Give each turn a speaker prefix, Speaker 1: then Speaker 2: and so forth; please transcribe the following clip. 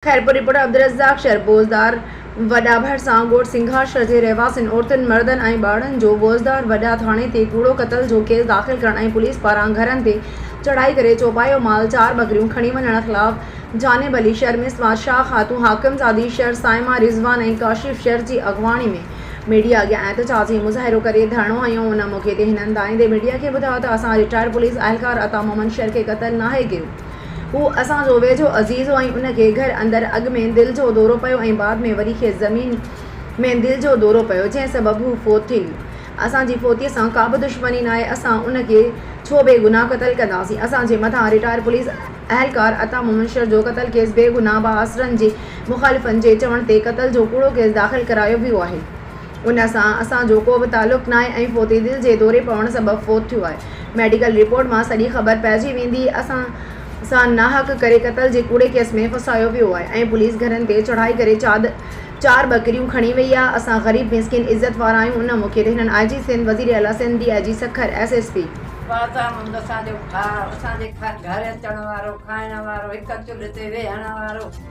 Speaker 1: Khairpur, report, Abdul Razzaq شهربوزدار، وڏا ڀرسان ڳوٺ سنگهار شهر جي رهواسين عورتن، مردن ۽ ٻارڙن جو بوزدار وڏا ٿاڻي تي ڪوڙو قتل جو ڪيس داخل ڪرڻ ۽ پوليس پاران گهرن تي چڙهائي ڪري چوپايو مال چار ٻڪريون کڻي وڃڻ خلاف جانب علي شهر ۾ سماج شاهه خاتون حاڪمزادي شهر صائمه رضوان ۽ ڪاشف شهر جي اڳواڻي ۾ ميڊيا اڳيان احتجاجي مظاهرو ڪري ڌرڻو هنيو ان موقعي تي هنن دائيندي ميڊيا کي ٻڌايو ته اسان رٽائرڊ پوليس اهلڪار عطا محمد شهر کي قتل ناهي ڪيو هو اسان جو ويجهو عزيز هو ۽ ان کي گهر اندر اڳ ۾ دل جو دورو پيو ۽ بعد ۾ وري کيس زمين ۾ دل جو دورو پيو جنهن سبب هو فوت ٿي ويو. اسان جي فوتيء سان ڪابه دشمني ناهي اسان ان کي ڇو بي گناهه قتل ڪنداسين. اسان جي مٿان رٽائر پوليس اهلڪار عطا محمد شر جو قتل ڪيس بي گناهه بااثرن جي مخالفن جي چوڻ تي قتل جو ڪوڙو ڪيس داخل ڪرايو ويو آهي. ان سان اسان جو ڪو به تعلق ناهي ۽ فوتي دل جي دوري پوڻ سبب فوت ٿيو آهي. ميڊيڪل رپورٽ مان سڄي خبر پئجي ويندي. اسان سان ناحق ڪري قتل جي ڪوڙي ڪيس ۾ ڦاسايو ويو آهي ۽ پوليس گهرن تي چڙهائي ڪري چاد چار ٻڪريون کڻي وئي آهي. اسان غريب مسڪين عزت وارا آهيون ان موقعي تي هنن آء جي سنڌ، وزير اعليٰ Sindh, D I G Sukkur, S S P. فاضا مند اسان جو ڀاء، اسان جي گهر اچڻ
Speaker 2: وارو، کائڻ وارو، هڪ چلهه تي ويهڻ وارو،